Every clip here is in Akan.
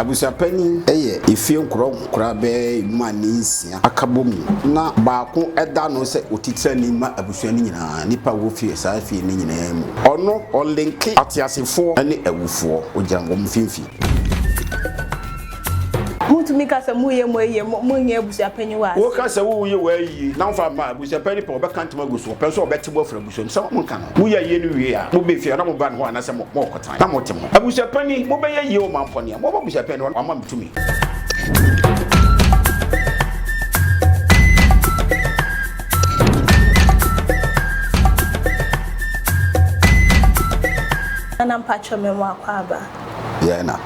Abusuapanyin yɛ efie nkorɔnkora bɛyɛ mma ne nsia aka bɔ mu na baako da no sɛ otiterani ma abusua no nyinaa, nnipa a wɔfi saa fie no nyinaa mu. Ɔno ɔlinke ateasefoɔ ne awufoɔ, ɔgyina wɔn mfimfini. Motumi ka sɛ moreyɛ mo ayie, monyɛ abusuapanyin wɔ aseɛ. Woka sɛ woreyɛ w'ayie na womfa mma a, abusuapanyin pɛ, ɔbɛka ntoma agu so, ɔpɛ nso a ɔbɛte bo afiri abusua no mu. Sɛ monka no, moyɛ ayie no wie a, mobɛ fie anaa moba ne hɔ anaasɛ mokɔ. na mote ho. Abusuapanin, mobɛyɛ yie o mampɔ nea. Moaba abusuapɛn no hɔ no, wama me tumi. Nana mpatsɔ me mo akɔ aba. Yɛɛ na.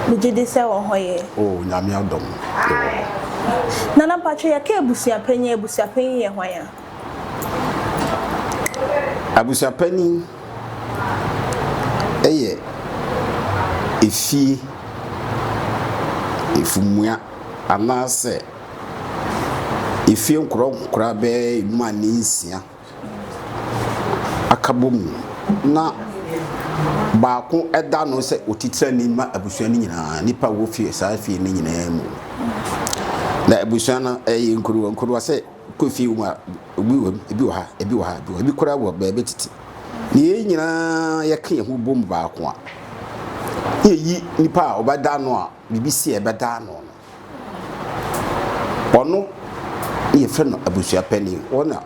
Me gye di sɛ wɔ hɔ yɛ. Oh nyame adom yɛ wɔ hɔ. Nana mpatsɔ yɛ ka abusuapanyin a abusuapanyin yɛ hwan a. Abusuapanin yɛ efie efumua anaasɛ efie nkorankora bɛyɛ emu a ne nsia aka bɔ mu na baako da ano sɛ otitrani ma abusua no nyinaa, nnipa a wɔwɔ fie saa fie no nyinaa mu. Na abusua no ɛyɛ nkuruwa nkuruwa sɛ. Kɔ fie mu a, ebi wɔ mu, ebi wɔ ha, ebi wɔ ha, ebi wɔ ha, ebi koraa wɔ baabi tete. Na yɛn nyinaa yɛka yɛn ho bom baako a, na yɛyi nipa a ɔbɛda ano a biribi si a ɛbɛda ano no. Ɔno na yɛfrɛ no abusua panin. Ɔno na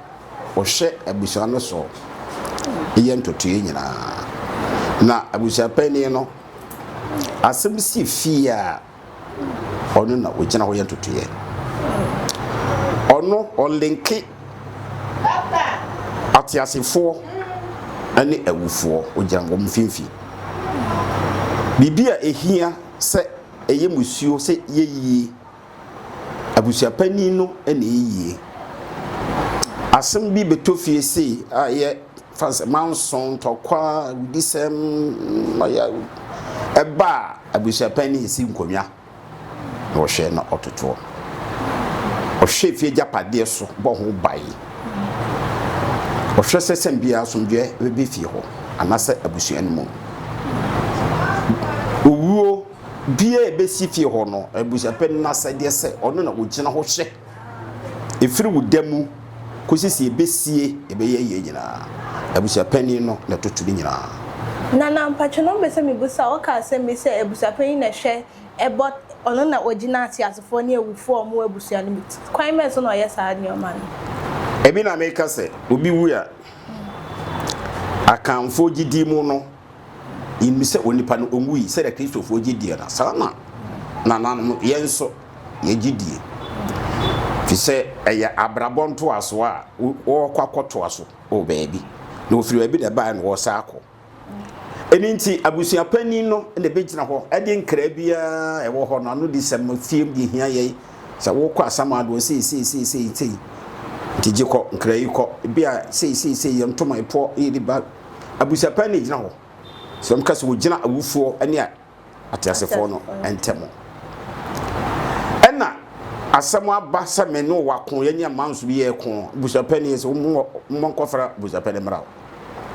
ɔhwɛ abusua no so yɛ ntotoeɛ nyinaa. Na abusua panin no, asɛm si fie a, Ɔno na ɔgyina hɔ yɛ ntotoeɛ. Ɔno ɔlenke ateasefoɔ ne awufoɔ, ɔgyina wɔn mfimfini. Biribi a ɛhia sɛ ɛyɛ musuo sɛ yɛyie, abusuapanin no na ɛyɛ yie. Asɛm bi bɛtɔ fie sei a ɛyɛ fa sɛ manso, ntɔkwa, awudisɛm, ɛba a, Abusuapanin si nkonnwa na ɔhwɛ na ɔtotoɔ. Ɔhwɛ fie agyapadeɛ so bɔ ho ban. Ɔhwɛ sɛ sɛn biara asomdwoeɛ bɛba fie hɔ anaasɛ abusua no mu. Owuo biara a ɛbɛsi fie hɔ no, abusuapanin no asɛdeɛ sɛ ɔno na ɔgyina hɔ hwɛ. Ɛfiri wo da mu kɔsi sɛ yɛbɛsie ɛbɛyɛ yie nyinaa, abusuapanin no na ɛtoto ne nyinaa. Nana mpatwɔ na ɔmpɛ sɛ mebusa wo ɔka asɛm bi sɛ abusuapanyin na ɛhwɛ ɛbɔ ɔno na ɔgyina ateasefoɔ ne awufoɔ a wɔn wɔ abusua no mu kwan bɛn so na ɔyɛ saa nnoɔma no. Ɛbi na meka sɛ obi wu a akanfoɔ gyidie mu no. Yenim sɛ onipa no onwui sɛnea Kristofo gye die no, saa ara na nananom no, yɛn nso yegye die, efisɛ ɛyɛ abrabɔ ntoaso a wɔkɔ akɔtoa so wɔ baabi, na wɔfiri baabi na ɛbae na wɔresan akɔ. Ɛno nti, abusua panyin no na ebegyina hɔ de nkra biara a ɛwɔ hɔ no anodisɛm no fie mu de ahia yɛn sɛ, Worekɔ asamando hɔ seesei, seesei, seesei, nti gye kɔ, nkra yi kɔ, ebia seesei, seesei, yɛ ntoma, ɛpoɔ, yɛ de ba. Abusapɛn na egyina hɔ. So wɔka sɛ wogyina awufoɔ ne ateasefoɔ no ntam. Ɛna asɛm aba sɛ me ne wo ako, yɛne amanso bi yɛko. Abusapɛn yɛ sɛ mo nkɔfra abusapɛn mmra hɔ.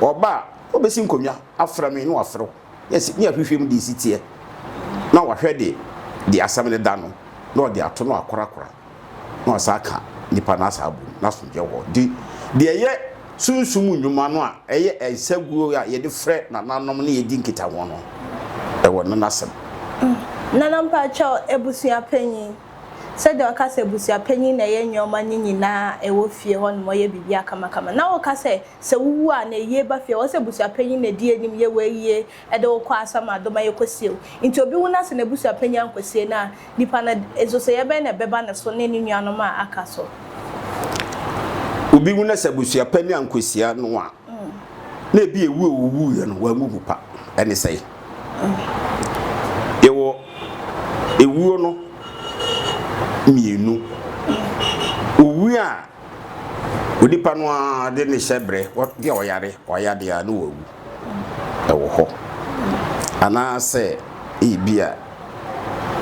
Ɔba a, ɔbɛsi nkonnwa afra me ne wafra wo. Yes, ne ahwehwɛ mu de si teɛ, na wahwɛ de de asɛm no da no, na ɔde ato no akorakora, na wasan aka nnipa no asan abom, na asomdwoeɛ wɔ hɔ. Nti, deɛ ɛyɛ sunsum nnwuma no a ɛyɛ nsaguo a yɛde frɛ nananom ne yɛdi nkitaho no, ɛwɔ no n'asɛm. Nana mpakyɛw, abusua panyin, sɛdeɛ ɔka sɛ abusua panyin na ɛyɛ nneɛma no nyinaa a ɛwɔ fie hɔnom, ɔyɛ biribiara kamakama, na woka sɛ sɛ wowu a na eyie ba fie a ɔsɛ abusuapanyin na edi anim yɛ wo ayie ɛde wo kɔ asa ma adom ayɛ kwasie o nti obi wu na sɛ n'abusuapanyin ankɔsie no a nipa no ɛzosɛeɛ bɛn na ɛbɛba ne so ne ne nuanom a aka so. Obi wu na sɛ abusuapanyin ankɔsia no a na ebi ewu a owuiɛ no wammu ho pa ɛne sɛe yɛwɔ ewuo no mmienu owuo a Onipa no ara de ne hyɛbrɛ, bi a ɔyare, wayade a na wawu wɔ hɔ. Anaasɛ ebi a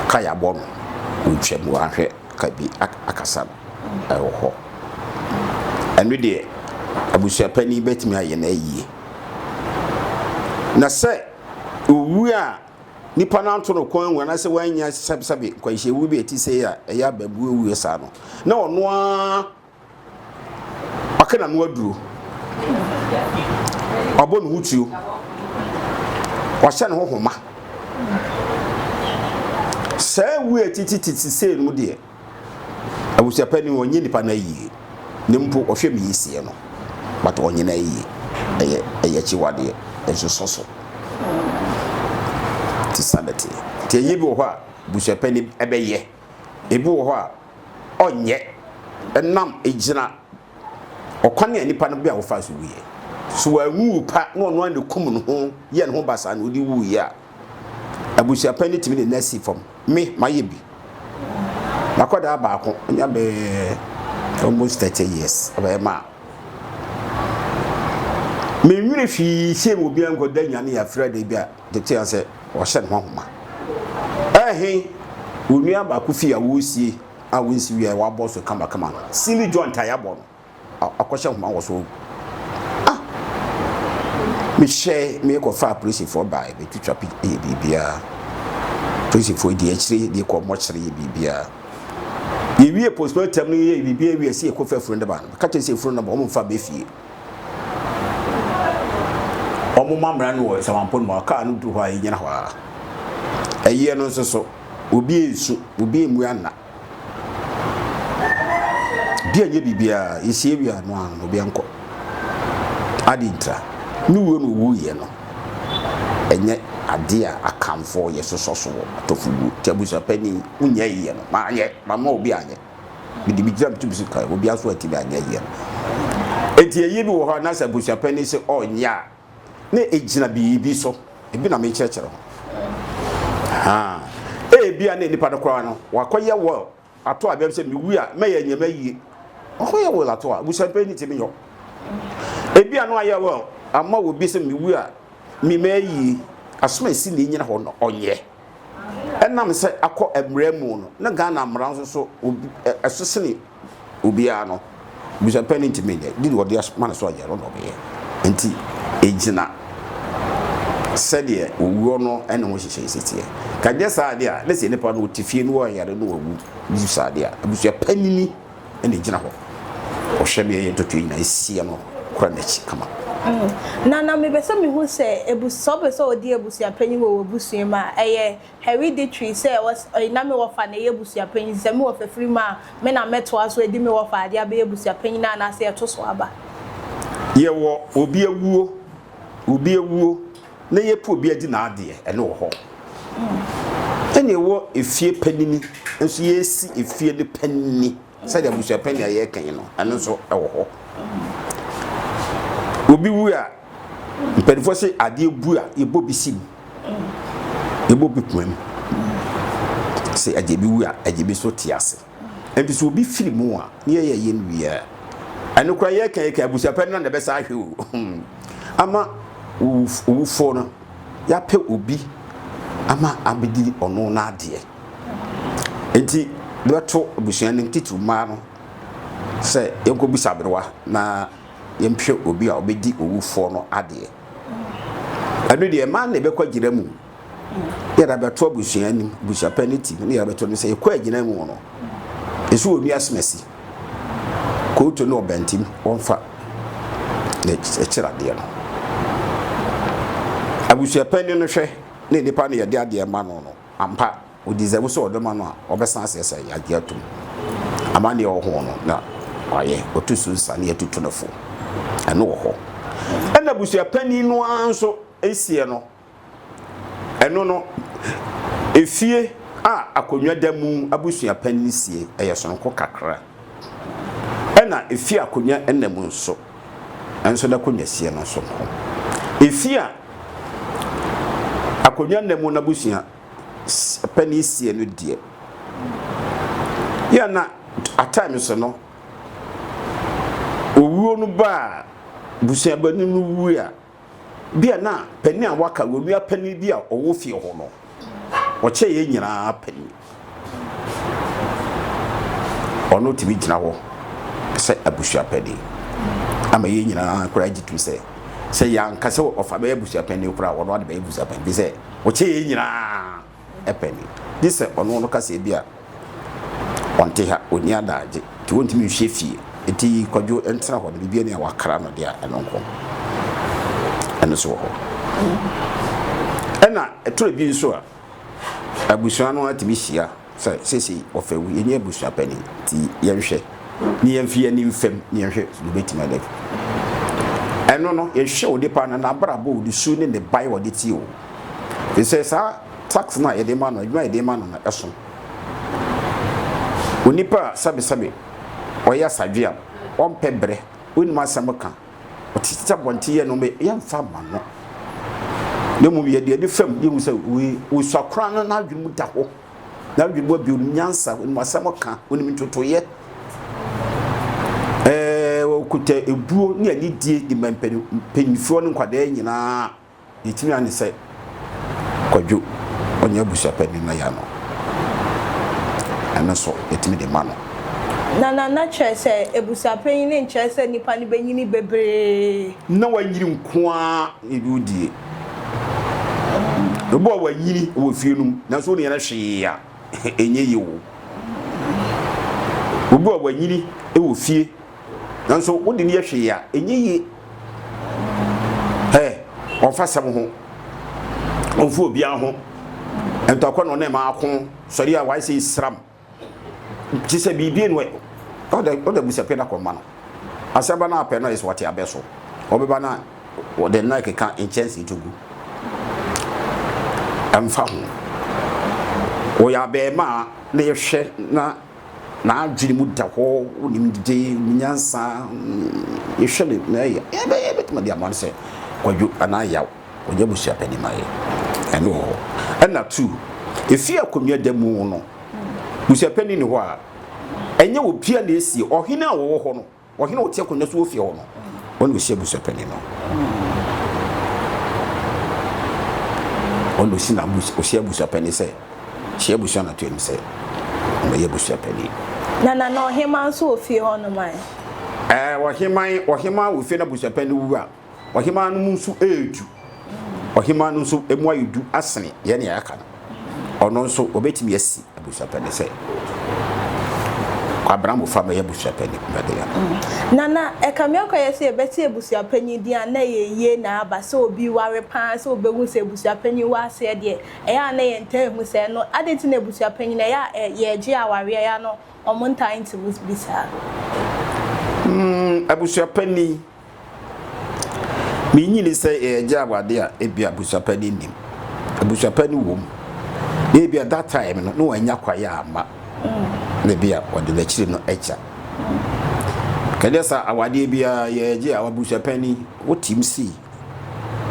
ka yɛabɔ no, ɔretwam, wahwɛ ka bi akasa no, ɛwɔ hɔ. Ɛno deɛ, abusuapanin bɛtumi ayɛ no ayie. Na sɛ ɔwu a, nnipa no anto no kɔn anwu anaasɛ wanyɛ sɛbsɛbe nkwanhyiawu bi a ɛte sɛ a ɛyɛ abaabuo awuo saa no na ɔno ara ɔka na no aduro ɔbɔ ne ho tuo ɔhyɛ ne ho homa saa awuo a ɛtitititi sei no deɛ Abusuapanin, ɔnyɛ nnipa no ayie, na mpo ɔhwɛ me yiesie no, but ɔnyɛ no ayie. Ɛyɛ ɛyɛ akyiwadeɛ, ɛnsosɔ so. Ti sa na teɛ. Ti ayie bi wɔ hɔ a, busuapanin ɛbɛyɛ. Ebi wɔ hɔ a, ɔnyɛ. Ɛnam egyina. Ɔkwan a nnipa no bere a wɔfaa so wuiɛ. So wanwu wu pa na ɔno ara na okum ne ho yɛɛ ne ho basaa na ɔde wuiɛ a, abusuapɛn no tumi de no asi fam. Me, mayɛ bi. M'akwadaa baako, ɔnya bɛyɛ almost thirty years, ɔbɛyɛ ma a. Mennwene hwee sie wɔ obiara nkɔda nnya ne yɛafira da bi a tete a sɛ ɔhyɛ ne ho ahoma. Ɛhe, onua baako fie a wɔresie. a wonsi wiɛ a ɛwɔ abɔɔ so kama kama no silly joint a yɛabɔ no akɔhyɛ nhoma wɔ so ah mehyɛe meekɔfaa polisifoɔ bae bɛtwitwa pi yɛ biribiaa polisifoɔ di akyire de kɔ mmɔkyere yɛ biribiaa yɛwie postmortem no yɛ biribiaa wie sɛ yɛkɔfa afunu no ba no ka kyerɛ sɛ afunu no ba wɔmfa bɛfie Wɔma mmara no wɔ nsamanpo no mu a kaa no duru hɔ a egyina hɔ ara. Ɛyeɛ no nso so, obi ansu, obi ammu anna. Obi anyɛ biribiara, yɛsie wie a noa no obi ankɔ. Ade ntira, ne wuo no owuiɛ no ɛnyɛ adeɛ a akanfoɔ yɛsosɔ so wɔ Atofobuo nti abusua panin wonyɛ ɛyeɛ no, manyɛ, mama obi anyɛ. Mede me gyina metum si kan, obia so antumi anyɛ yie no. Enti ɛyɛ bi wɔ hɔ a na sɛ abusuapani se ɔnyɛ a, na ɛgyina biribi so. Ebi na menkyerɛkyerɛ ho. Haa, ebia na nipa no koraa no, wakɔyɛ wɔ ato a bɛm sɛ mewu a mɛyɛ nyɛ m'ayie. Wakɔyɛ wɔ ato a abusuapani ti menyɔ. Ebia no ayɛ wɔ ama wɔ bi sɛ mewu a me m'ayie. Asoma esi ne nyina hɔ no ɔnyɛ. Ɛnam sɛ akɔ mmara mu no, na Ghana mmara nso so obi ɛ ɛso sene obiara no, Busuapɛn no ntumi nyɛ. Deal a wɔde as ma no sɛ ɔnyɛ no na ɔbɛyɛ. Enti ɛgyina sɛdeɛ owuo no ne ho nhyehyɛeɛ si teɛ. Ka ɛnyɛ saa deɛ a, na sɛ nnipa no wɔte fie na wɔyare na wɔwu, ne su saa deɛ a, abusua panini na egyina hɔ. Ɔhwɛ nea ɛyɛ ntotoe nyinaa, esi ano kora n'akyi kama. Mm. Na na mepɛ sɛ mehu sɛ abus sɛ ɔpɛ sɛ ɔdi abusuapanyin wɔ w'abusua mu a ɛyɛ hereditary sɛ wɔs ɔyɛ na me wɔfa na ɛyɛ abusuapanyin sɛ me wɔfa firi mu a me na mɛtoa so adi me wɔfa ade abɛyɛ abusuapanyin anaasɛ ɛto so aba. Yɛwɔ obi awuo, obi awuo. na yɛpɛ obi adi n'adeɛ, ɛno wɔ hɔ. Ɛna ɛwɔ efie panini nso, yɛresi efie no panini sɛdeɛ abusuapɛn nea yɛreka yi no, ɛno nso ɛwɔ hɔ. Obi wu a, mpanimfoɔ se adeɛ bu a, yɛbɔ bi si mu, yɛbɔ bi poma mu. Sɛ agya bi wu a, agya bi nso te ase. Enti sɛ obi firi mu a, ne yɛyɛ yɛn wie a, ɛno koraa yɛka yɛka abusua pɛ no na na ɛbɛsa ahwɛ o. Ama owufoɔ no, yɛapɛ obi ama abɛdi ɔno n'adeɛ. Enti bɛbɛto abusua no titiriw mmaa no sɛ yɛnkɔbisa aberewa na yɛmpɛ obi a ɔbɛdi owufoɔ no adeɛ. Ɛno deɛ mmaa na ɛbɛkɔ agyina mu. yɛde abɛto abusua anim abusuapɛ no ti na yɛde abɛto anim sɛ yɛkɔ agyina mu no ɛsɛ wɔnua asemasi kooto ne ɔbɛntim wɔmfa na ɛkyerɛ adeɛ no abusuapɛ no hwɛ ne nipa no yɛde adeɛ ma no no ampa ɔdizɛbo sɛ ɔde ma no a ɔbɛsan aseɛ sɛ yɛagye atom ama neɛ ɔho no na wayɛ ɔto so nsa ne yɛtutu no fo ɛno wɔ hɔ ɛna abusuapani no ara nso ɛsiɛ no Ɛno no, efie a akonnwa da mu abusuapɛn no sie yɛ soronko kakra. Ɛnna efie a akonnwa nna mu nso, ɛnso n'akonnwa sie no soronko. Efie a akonnwa nna mu n'abusuapɛn no sie no deɛ, yɛ na at times no, owuo no ba a, busuabani no wu a, Bia na panin a waka wɔ nua panin bi a ɔwɔ fie hɔ no, ɔkyɛ yɛn nyinaa panin. Ɔno tumi gyina hɔ sɛ abusua panin ama yɛn nyinaa koraa gye tom sɛ sɛ yɛanka sɛ ɔfa bɛyɛ abusua panin koraa ɔno ade bɛyɛ abusua panin bi sɛ ɔkyɛ yɛn nyinaa. pɛ ni, gye sɛ ɔno no ka sɛ ebia ɔnte ha, onni adaagye, nti wontumi nhwɛ fie, nti Kwadwo ntena hɔ no, biribiara ni a wɔakra no de a ɛno nko. Ɛno nso wɔ hɔ. Ɛna ɛtɔ bi nso a, abusua no atumi hyia sɛ seesei wɔfɛ wo, yɛnyɛ abusua pɛ ni, nti yɛnhwɛ, ne yɛmfi yɛn ani mfam, ne yɛnhwɛ sɛ wobɛtumi adɛbi. Ɛno no, yɛhwɛ onipa no, n'abrabɔ, ne su ne ne bae a ɔde tie o, Ɛfiri sɛ saa tax no a yɛde ma no, adwuma a yɛde ma no no, ɛso. Onipa a sɛbesɛbe ɔyɛ asadwe a ɔmpɛ brɛ, ɔnnim asɛm ka, ɔtete abɔnten yɛ nneɛma yi, yɛmfa mma no. Na mmom yɛde ani fam yɛhu sɛ wei ɔsua koraa no n'adwene mu da hɔ, n'adwene mu abio, ɔnim nyansa, ɔnim asɛm ka, ɔnim ntotoeɛ. Ɛɛ ɔkuta ebuo ne anidie de ma mpanimfoɔ ne nkwadaa nyinaa. Yɛtumi ane sɛ kwadwo ɔnyɛ abusuapanin na yɛano ɛno nso yɛtumi de ma no. Na na na kyerɛ sɛ abusuapanyin no nkyerɛ sɛ nipa no bɛnyini bebree. Na wanyini nko ara na ebi wodie. Ebi a wanyini wɔ fie no mu nanso wone yɛn hwee a ɛnyɛ yie o. Obi a wanyini wɔ fie. Nanso wode no yɛ hwee a, ɛnyɛ yie. Ɛ, ɔmfa sɛm ho. Ɔmfa obiara ho. Ntɔkwa na ɔne ma ako sɔre a wayɛ sɛ esiram. Te sɛ biribi no ɛ. Ɔda ɔda busapɛ na kɔma no. Asɛm ba no apɛ no ayɛ sɛ ɔte abɛ so. Ɔbɛba na ɔde nnan keka nkyɛnsee to gu. Ɛmfa ho. Ɔyɛ abɛɛmaa na yɛhwɛ na n'adwene mu da hɔ, wonim dede, wonim nyansa, yɛhwɛ no na ɛyɛ yɛbɛyɛ yɛbɛtumi de ama no sɛ kwadwo anaa yaw ɔnyɛ abusua panin ma yɛ ɛno wɔ hɔ ɛna tu ɛfie akonnwa da mu no busua panin ne hɔ a ɛnyɛ obiara na ɛsie ɔhene a wɔwɔ hɔ no Ɔhene a ɔte akonnwa so wɔ fie hɔ no, ɔna ɔsi abusuapanin no. Ɔna ɔsi n'abus ɔsi abusuapanin sɛ, hyia abusua no atoam sɛ, ɔmmɛyɛ abusuapanin. Na na na ɔheman nso wɔ fie hɔnom ɛ? Ɛɛ, ɔheman, ɔheman wɔ fie na abusuapanin wu a. Ɔhemaa no mu nso yɛ du. Ɔhemaa no nso mu ayɛ du asene yɛn nea yɛaka no. Ɔno nso obetumi asi abusuapɛni sɛ Kwabena Mofah bɛyɛ abusuapɛni bɛde yɛn. Mm. Nana, ɛka me akɔyɛ sɛ yɛbɛte abusuapɛni din a na ɛyɛ yie na aba sɛ obi ware paa sɛ obehu sɛ abusuapɛni wɔ aseɛ deɛ ɛyɛ a na yɛn ntaa ehu sɛ ɛno adɛn nti na abusuapɛni no ɛyɛ a yɛregye awareɛ ɛyɛ a no wɔn ntaa nti mu bi saa. Mm, abusuapɛni Minnye nni sɛ yɛregye awade a ebia abusua pa no nnim. Abusua pa no wom, na ebia that time no na wannya kwae amma, na ebia wɔde no akyiri no agya. Kɛdeɛ sɛ awadeɛ biara yɛregye a abusua pa ni, wotim si,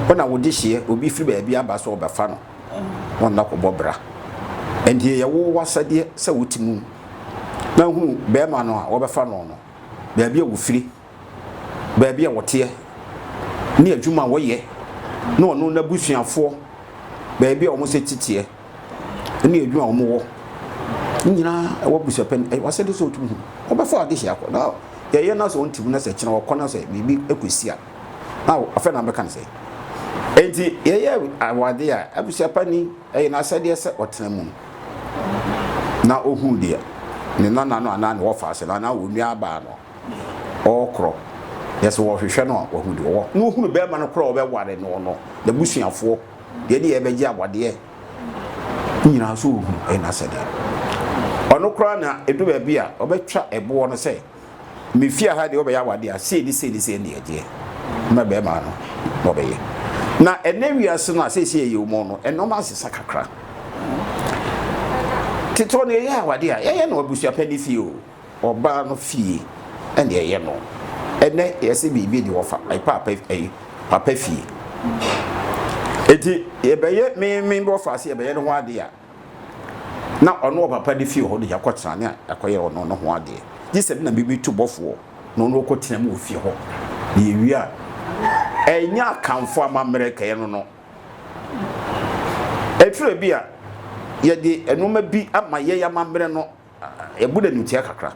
wo na wode hyeɛ, obi firi baabi aba sɛ ɔbɛfa no, wɔn na kɔbɔ bra. Nti ɛyɛ wo wasadeɛ sɛ wote mu na hunu bɛrima no a wɔbɛfa no no, baabi a wɔfiri. baabi a wɔteɛ ne adwuma a wɔyɛ ne ɔno n'abusuafoɔ baabi a wɔn sɛ titeɛ ne adwuma a wɔn wɔ ne nyinaa ɛwɔ abusuapɛ no ɛwɔ asɛ de sɛ ɔtum ho wɔbɛfa ade hyɛ akɔ na yɛyɛ no sɛ ɔntim no sɛ kyena wɔkɔ no sɛ biribi ɛkɔsi a na afɛ na bɛka no sɛ enti yɛyɛ awade a abusuapɛ ni ɛyɛ no asɛdeɛ sɛ ɔtena mu na ɔhu deɛ ne nana no anaa ne wɔfa ase no anaa wɔnua abaa no ɔɔkorɔ yɛ sɛ wɔɔhwehwɛ no a wahu deɛ ɔwɔ na ohunu bɛɛma no korɔ a ɔbɛware noɔ no nabusuafoɔ deɛ ɛdeɛ ɛbɛgye awadeɛ nyinaa so ɔhu ɛyɛ nasɛdeɛ ɔno koraa na ɛdu baabi a ɔbɛtwa ɛboɔ no sɛ mefia ha deɛ ɔbɛyɛ awadeɛ a sei ne sei ne sei ne ɛdeɛ ma bɛɛma no na ɔbɛyɛ na ɛnɛ wiase no a seesei ɛyɛ ɔmɔ no ɛnɔma asesa kakra tete ɔno ɛyɛ awadeɛ a yɛyɛ no abusuapɛ ne fie o Ɔbaa no fie ɛna ɛyɛ no. Ɛnɛ yɛse biribi ni wɔfa paapa ɛyi papa fie. Eti yɛbɛyɛ memen wɔfa se yɛbɛyɛ ne ho adeɛ a na ɔno wɔ papa ne fie hɔ no yakɔ tena ne yakɔyɛ ɔno ne ho adeɛ. Gye sɛ me na mebi tu bɔfoɔ na ɔno ɔkɔ tena mu wɔ fie hɔ na yɛwie a ɛnyɛ akanfo amammerɛ kɛyɛ no no. Ɛtwerɛ bi a yɛde nnoɔma bi ama yɛn amammerɛ no. Yɛbu no animtia kakra.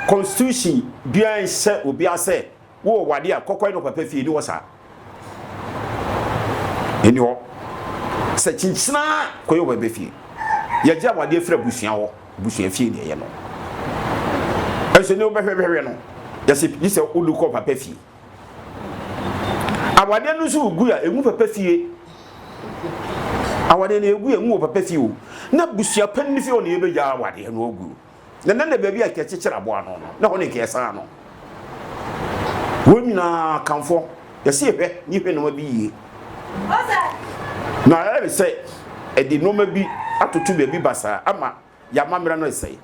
Constitution biara nhyɛ obiara sɛ wowɔ w'ade a kɔkɔe na ɔpɛpɛ fie. Ɛni hɔ saa. Ɛni hɔ sɛ kyinkyin ara kɔyɛ ɔpɛpɛ fie. Yɛgye awadeɛ firi abusua hɔ. Abusua fie na ɛyɛ no. Ɛnso nea wobɛhwɛhwɛ no, yɛse gye sɛ wode kɔ ɔpɛpɛ fie. Awadeɛ no nso gu a ɛngu papa fie. Awadeɛ no ɛgu a ɛngu wɔ papa fie o. Na busua pa no fie hɔ na yɛbɛgya awadeɛ no agu. Na na na baabi a kɛkyekyere aboa no no, na hɔ ne kɛsan no. Wɔn nyinaa kamfɔ, yɛsi hwɛ ne hwɛ nneɛma bi yie. Na ɛyɛ sɛ ɛde nneɛma bi atoto baabi basaa ama y'amammerɛ no resɛe.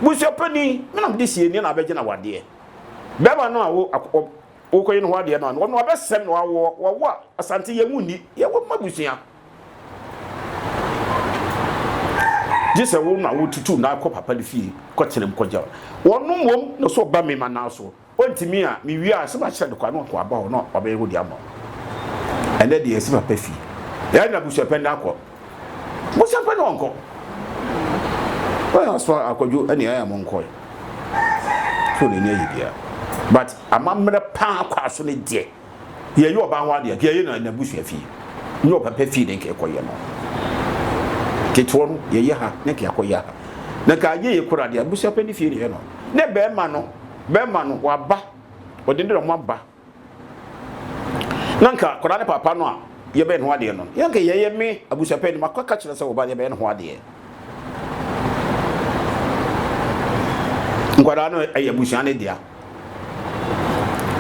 Busuapanin, me na mede sianie na abɛgye na wadeɛ. Bɛrima no a wo akɔ wokɔyi ne ho adeɛ no a, ɔno abɛsɛm na wawo wawo a, Asante yɛn mu nni, yɛn wɔ mma busua. Gye sɛ wo na wotutu na akɔ papa no fie kɔtenam kɔgya wɔn mmom na so ɔba me ma naa so. Ontumi a, me wie a sɛ makyerɛ no kwan na wakɔ aba hɔ na wabɛyɛ hɔ de ama wo. Ɛnɛ deɛ ɛsɛ papa fi. Yɛn na busuapɛn na akɔ. Busuapɛn na ɔnkɔ. Wɔn aso akɔdwo ɛne ɛyɛ mo nkɔ. Fone ni ayi bia. But amammerɛ paa kɔ aso ne deɛ. yɛyɛ ɔbaa ho adeɛ nka yɛyɛ na n'abusua fie ne ɔba pɛ fie na nka yɛkɔyɛ no ketewa no yɛyɛ ha na nka yɛakɔyɛ ha na nka ayɛ yɛ kora deɛ abusua pɛ ne fie ne yɛ no ne bɛrima no bɛrima no waba ɔde ne dɔm aba na nka kora ne papa no a yɛbɛyɛ ne ho adeɛ no yɛ nka yɛyɛ me abusua pɛ ne makɔ ka kyerɛ sɛ wɔba yɛbɛyɛ ne ho adeɛ nkwadaa no ɛyɛ abusua ne dea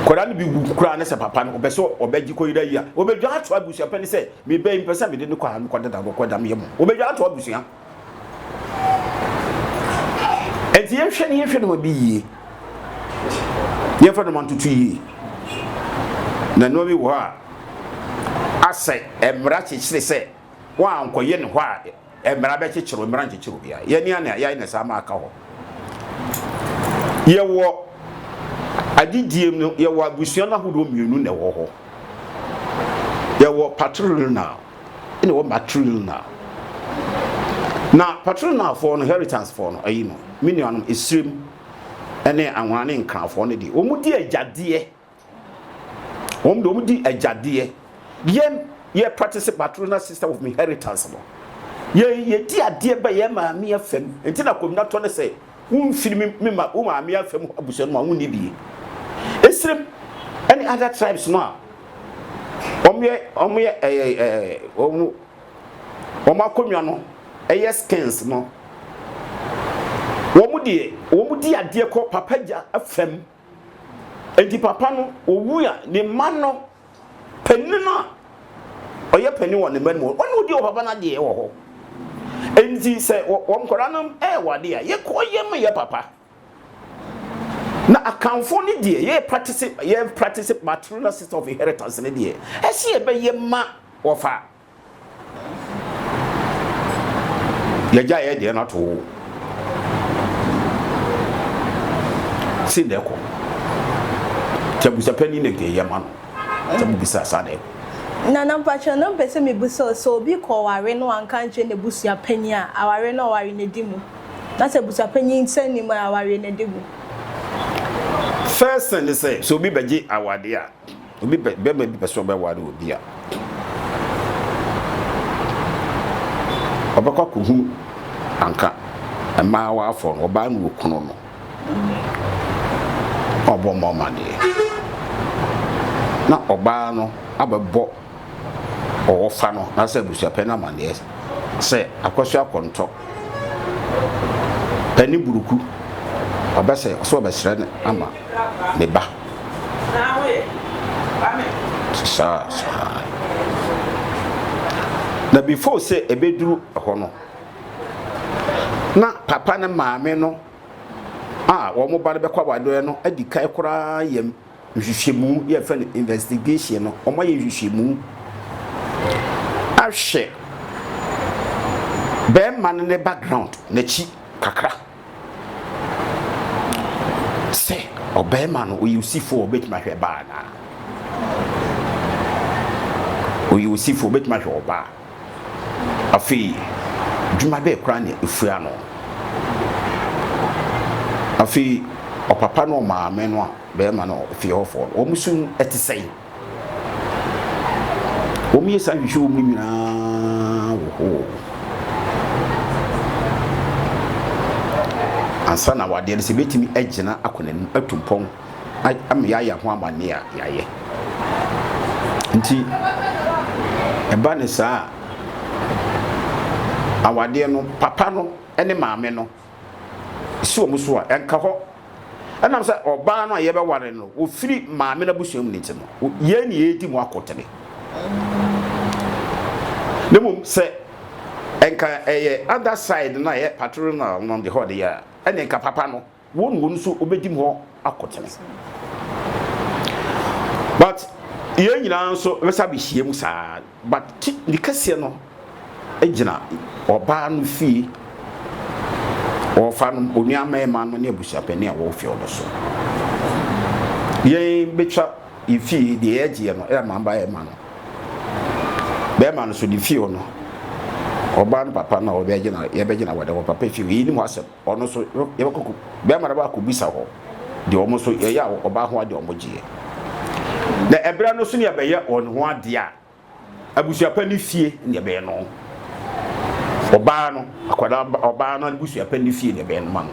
Nkwadaa no bi wu koraa ne sɛ papa no ɔpɛ sɛ ɔbɛgye kɔyera yi a ɔbɛdwa ato abusua pɛ ne sɛ meba yi mpɛ sɛ mede no kɔ a mekɔ deda kɔkɔ dam yɛ mu ɔbɛdwa ato abusua ɛnti yɛnhwɛ ne yɛnhwɛ noma bi yie yɛmfa noma ntoto yie na noma bi wɔ hɔ a asɛ mmara kyekyere sɛ wɔankɔyɛ ne hɔ a Mmara bɛkyekyere o, mmara nkyekyere obiara. Yɛn ani ane a, yɛayɛ no saa ma aka hɔ. Yɛwɔ adedie mu no, yɛwɔ abusua no ahodoɔ mmienu na ɛwɔ hɔ. Yɛwɔ patrilineal ɛna ɛwɔ matrilineal. Na patrilinealfoɔ no, heritancefoɔ no, ayi no, me nuanom, Esirem ne Anwona ne Nkrafoɔ no deɛ, wɔdi agyadeɛ Wɔn deɛ wɔn di agyadeɛ. Yɛn yɛ practice patrona system of inheritance no. Yɛn yɛ di adeɛ bɛ yɛn maame afam. Nti na komina tɔ ne sɛ wonfiri me me ma wo maame afam abusua no mu a wonni bie. Esrem ɛne other tribes no a wɔn yɛ wɔn yɛ ɛɛ ɛɛ wɔn wɔn akonnwa no ɛyɛ skins no wɔn deɛ wɔn di adeɛ kɔ papa gya afam. Enti papa no owu a, ne mma no, panin no a ɔyɛ panin wɔ ne mma no mu, ɔno odi ɔpapa no adeɛ wɔ hɔ. Enti sɛ wɔn nkwadaa no ɛɛwɔ adeɛ a, yɛ kɔ yɛ mu yɛ papa. Na akanfoɔ no deɛ, yɛ practice yɛ practice maternal system of inheritance no deɛ, ɛsɛ yɛbɛyɛ ma wɔfa yɛgya yɛ deɛ no ato wo si na ɛkɔ nti abusapɛni na nka yɛ ma no sɛ mobisa saa dɛ na na mpakyɛ na mpɛ sɛ mebisa o sɛ obi kɔ ɔware no wanka nkyerɛ n'abusua panyin a aware no ɔware no di mu na sɛ abusua panyin nsa nnim a aware no di mu. First thing ne sɛ sɛ obi bɛgye awade a Obi pɛ, bɛrima bi pɛ sɛ ɔbɛware obi a, ɔbɛkɔ akɔhu anka mmaa waafɔ no, ɔbaa no okunu no, ɔbɔ mmɔ amadeɛ. Na ɔbaa no abɛbɔ ɔwɔfa no anaasɛ abusuapɛn no amanneɛ sɛ Akwasu Akontɔ pɛ ne buruku ɔbɛ sɛ ɔsɛ ɔbɛsrɛ no ama ne ba. Saa saa. Na before sɛ ɛbɛduru hɔ no, na papa ne maame no a wɔn ba no bɛkɔ awadeɛ no adi kan koraa yɛ nhwehwɛmu yɛ yɛfrɛ no investigation no wɔn ayɛ nhwehwɛmu ahwɛ bɛrima no ne background n'akyi kakra sɛ ɔbɛrima no ɔyɛ osifoɔ ɔbɛtumi ahwɛ baa naa ɔyɛ osifoɔ ɔbɛtumi ahwɛ ɔbaa. Afei, dwuma bɛn koraa na efura no? Afei, ɔpapa ne ɔmaame no a barima no fi hɔ fɔ no, wɔn su te sɛn? Wɔyɛ saa nhwehwɛ wɔ mu nyinaa wɔ hɔ ansa na awadeɛ no sɛ ebetumi agyina akɔ n'anim atu mpɔn. ama yɛayɛ ho amanneɛ a, yɛayɛ. Nti, ɛba no saa a, awadeɛ no, papa no ne maame no si wɔn so a, ɛnka hɔ. Ɛnam sɛ ɔbaa no a yɛbɛware no, wɔfiri maame no abusua mu no nti no, yɛn ne yɛredi mu akotene. Na mmom sɛ ɛnka ɛyɛ other side no a ɛyɛ paternal no de hɔ deɛ a, ɛne nka papa no Won won nso wobedim hɔ akotene. But yɛn nyinaa nso bɛsa bɛhyia mu saa. But ti ne kɛseɛ no gyina ɔbaa no fie, ɔfa no, onua mɛɛma no ne abusuapɛni a wɔwɔ fie no so. Yɛn bɛtwa yɛ fie deɛ yɛgyeɛ no ɛyɛ mamba yɛ ma no. Bɛɛma no so ne fie no, ɔbaa no papa no a wɔbɛgyina yɛbɛgyina wɔde wɔ papa fie, yɛnim hɔ asɛm. ɔno nso yɛbɛkɔ kɔ bɛrima no ba akɔbisa hɔ deɛ wɔn nso yɛyɛ a ɔbaa ho adeɛ wɔn gyeɛ na ɛberɛ no so ne ɛbɛyɛ wɔn ho adeɛ a abusuapɛ ne fie ne ɛbɛyɛ no ɔbaa no akwadaa ɔbaa no abusuapɛ ne fie ne ɛbɛyɛ no ma no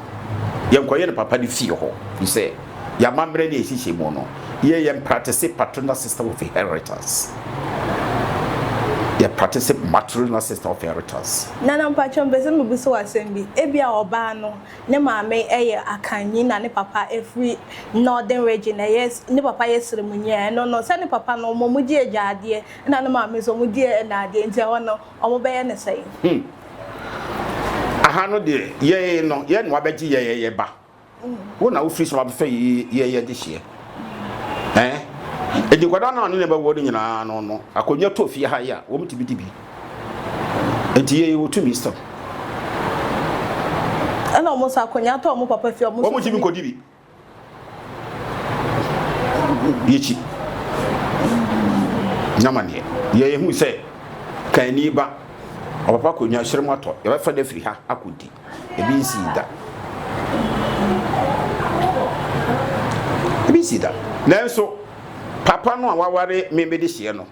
yɛnkɔyɛ no papa ne fie hɔ fi sɛ yɛn amammerɛ ne yɛn nhyehyɛmu no, yɛ yɛn pratese patronal system of inheritance. Yɛ pratese matronal system of inheritance. Nana mpakyɛw mpɛ sɛ mebisa wo asɛm bi. Ebia ɔbaa no ne maame yɛ Akanni na ne papa firi Northern Region, ɛyɛ ne papa yɛ Sremunyi a, ɛno no sɛ ne papa no wɔn wɔn di agyaadeɛ na ne maame nso wɔn di ɛnaadeɛ nti ɛhɔ no wɔn bɛyɛ ne sɛn? Hmm. Aha no deɛ yɛn no yɛn na wabɛgye yɛn yɛyɛ ba. Wo na wofiri soro abɛfa yi yɛ yɛ dehyeɛ. Ɛn, edi nkwadaa no a ɔne ne bɛwɔ no nyinaa no no akonnwa tɔ fie ha yi a, wɔtumi di bi. Nti yɛ yɛ wɔtumi sɛm. Ɛna wɔn nso akonnwa tɔ wɔn papa fie a wɔn nso tumi kɔdi bi. Yɛkyi. Nyama neɛ. Yɛ yɛ hu sɛ, kan ni ba, ɔpapa akonnwa hyerɛm atɔ, yɛbɛfa no afiri ha akɔdi. Ebi nsii da. Ebi nsii da. Nanso, papa no a waware me mede hyeɛ no,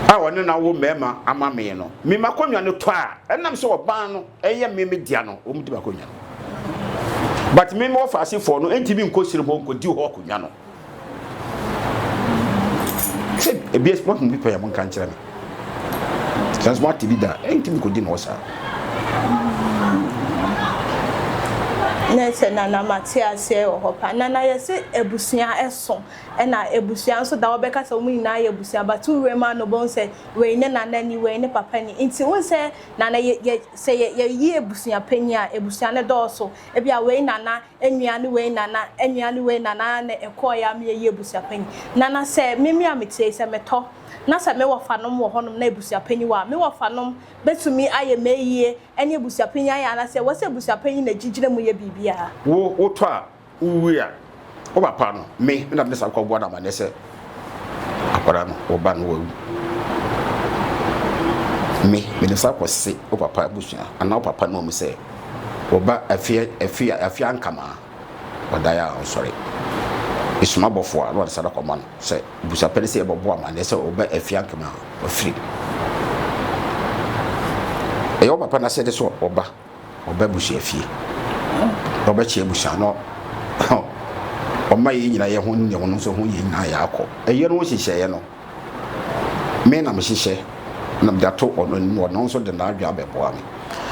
a ɔne no awo mmarima ama me no, me m'akonnwa no tɔ a, ɛnam sɛ ɔbaa no yɛ me me dea no, wɔn di m'akonnwa no. But me me wɔfasefoɔ no ntumi nkɔ sini hɔ nkɔdi hɔ akonnwa no. sɛ ebi esi moahu bi pɛn a monka nkyerɛ me sɛ nso moate bi da a ɛntumi kɔdi ne hɔ saa ne sɛ nana mate aseɛ wɔ hɔ pa nana yɛse abusua ɛso ɛna abusua nso da wɔbɛka sɛ wɔn nyinaa yɛ abusua but wowura mu ano bɛhu sɛ wei ne nana ni wei ne papa ni nti wohu sɛ nana yɛ, yɛ, sɛ yɛyi abusua panyin a abusua no dɔɔso ebi a wei nana Nnuane wei na na nnuane wei na na na ɛkɔɔeɛ a meyɛyi abusuapanyin. Na na sɛ me me a metie yi, sɛ metɔ na sɛ me wɔfanom wɔ hɔnom na abusuapanyin wɔ a, me wɔfanom bɛtumi ayɛ m'ayie ne abusuapanyin ayɛ anaasɛ ɛwɔ sɛ abusuapanyin na ɛgye gyina mu yɛ biribiara? Wo wotɔ a, wowie a, wo papa no, me na me de saa kɔboa no amanneɛ sɛ, akwadaa no wo ba no wawu me mede sa kɔse wo papa abusua anaa wo papa no mu sɛ wo ba afie afie afie ankama ɔdaeɛ a ɔnsɔre esuma bɔfo a na ɔde sada kɔma no sɛ busapɛ no sɛ yɛbɛbɔ amanneɛ sɛ wo ba afie ankama ɔfiri ɛyɛ wo papa no asɛde sɛ ɔba Ɔba abusua fie na ɔbɛkyɛ abusua no ɔma yɛn nyinaa yɛ ho nyɛ ho no nso ho yɛn nyinaa yɛakɔ. Ɛyɛ no nhyehyɛeɛ no, me na mehyehyɛ na mede ato ɔno anim, ɔno nso de n'adwene abɛboa me.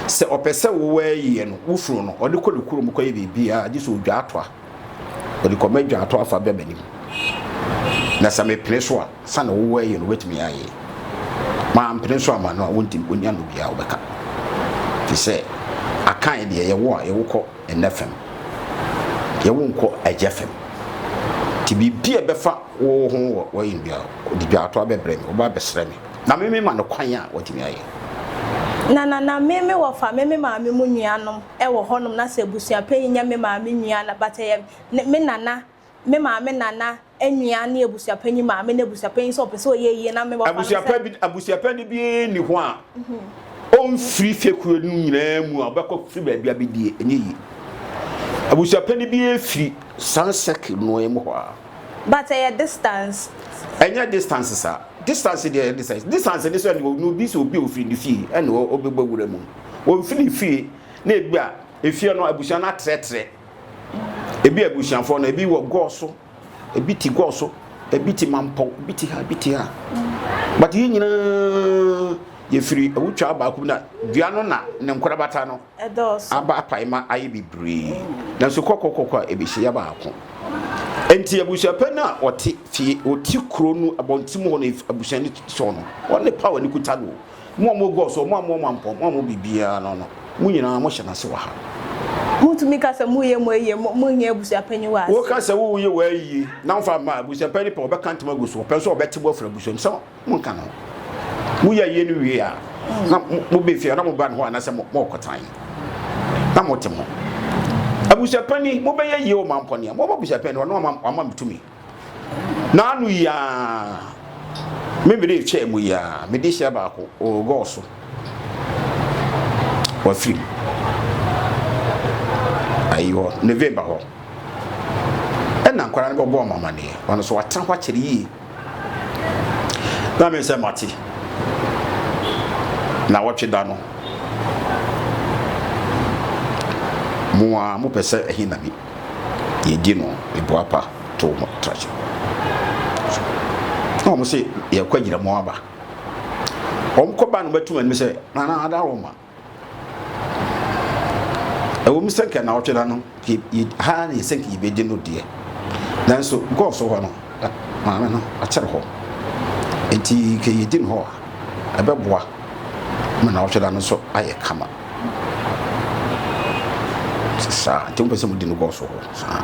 Sɛ ɔpɛ sɛ wowɔ ayie no, wo funu no, ɔde kɔ ne kurom kɔyɛ biribiara gye sɛ ɔdwa atoa. Wɔde kɔ m'adwa ato afa bɛ m'anim. Na sɛ mepene so a, sɛnea wowɔ yɛ no wobɛtumi ayɛ. Mampene so amma no a, wontim ɔni ano biara a wobɛka. Te sɛ akan deɛ yɛwo a yɛwo kɔ ɛnɛ fam, yɛwo nkɔ agya fam. Nti biribi a ɛbɛfa wo ho wɔ wɔyɛ no biara, wɔde dwa ato abɛbrɛ me, wɔba abɛsrɛ me. Na me mema no kwan a watumi ayɛ. Na na na me mewɔ fa me me maame mu nuanom. wɔ hɔnom na sɛ abusua panyin yɛ me maame nua na but ɛyɛ me nana me maame nana nua ne abusua panyin maame ne abusua panyin sɛ ɔpɛ sɛ ɔyɛ yie na me bɔ abusua pa bi abusua panyin bi ni hɔ a ɔmfiri fekuo no nyinaa mu a ɔbɛkɔ firi baabi abɛdie ɛnyɛ yie abusua panyin bi firi saa sɛkil no mu hɔ a but ɛyɛ distance ɛnyɛ distance saa distance deɛ ɛyɛ distance distance ne sɛ ɛne obi sɛ obi ofiri ne fie ɛne ɔbɛbɔ wura mu wɔn firi fie na ebi a efie no abusua no atrɛtrɛ ebi abusuafoɔ no ebi wɔ gɔɔ so ebi ti gɔɔ so ebi ti mampɔw ebi ti ha ebi ti ha but yɛn nyinaa yɛfiri awutwa baako na dua no na ne nkorabata no aba apaema ayɛ bebree nanso kɔkɔkɔkɔ a ebɛhyɛ yɛ baako nti abusua pɛ no a ɔte fie ɔte kuro no abɔnten hɔ no abusua no sɔ no ɔne pa wɔ ne kuta no Mo a mogu ɔso, mo a mowɔ mmampɔ, mo a mowɔ biribiara no no, mo nyinaa mohyɛ n'ase wɔ ha. Mutumi ka sɛ moreyɛ mo ayie, mo, monnyɛ abusuapanyin wɔ ase. Woka sɛ woreyɛ w'ayie, na womfa mma abusuapanyin pɛ, ɔbɛka ntoma agu so, ɔpɛ nso a ɔbɛte bo afiri abusua mu. Sɛ monka no, moyɛ ayie no wie a, na moba fie a, na moba ne hɔ anaasɛ morekɔtena he? Na mote ho. Abusuapanyin, mobɛyɛ ayie wɔ mampɔ no a, mobɛba abusuapanyin no hɔ, na wama me tumi. N'ano yi ara me mede rekyɛɛ mu yi ara mede hyɛ baako ɔregɔɔ so wafiri mu ayi hɔ ne vee ba hɔ ɛna nkwara no bɛbɔ ɔmo amaneɛ ɔno so watena hɔ akyɛre yie na me sɛ mate na wɔtwe da no mo a mopɛ sɛ ɛhe na bi yɛgye no boapa to ho trakye na wɔn sɛ yɛkɔ agyina mu aba wɔn kɔ ba no bɛtum anim sɛ nana ada wɔn ma ɛwɔ mu sɛ nka na ɔtwe na no ha ne sɛ nka yɛbɛgye no deɛ nanso gɔɔ so hɔ no maame no akyerɛ hɔ nti kɛyɛgye no hɔ a ɛbɛboa ma na ɔtwe na no so ayɛ kama saa nti wopɛ sɛ wodi no bɔɔ so hɔ saa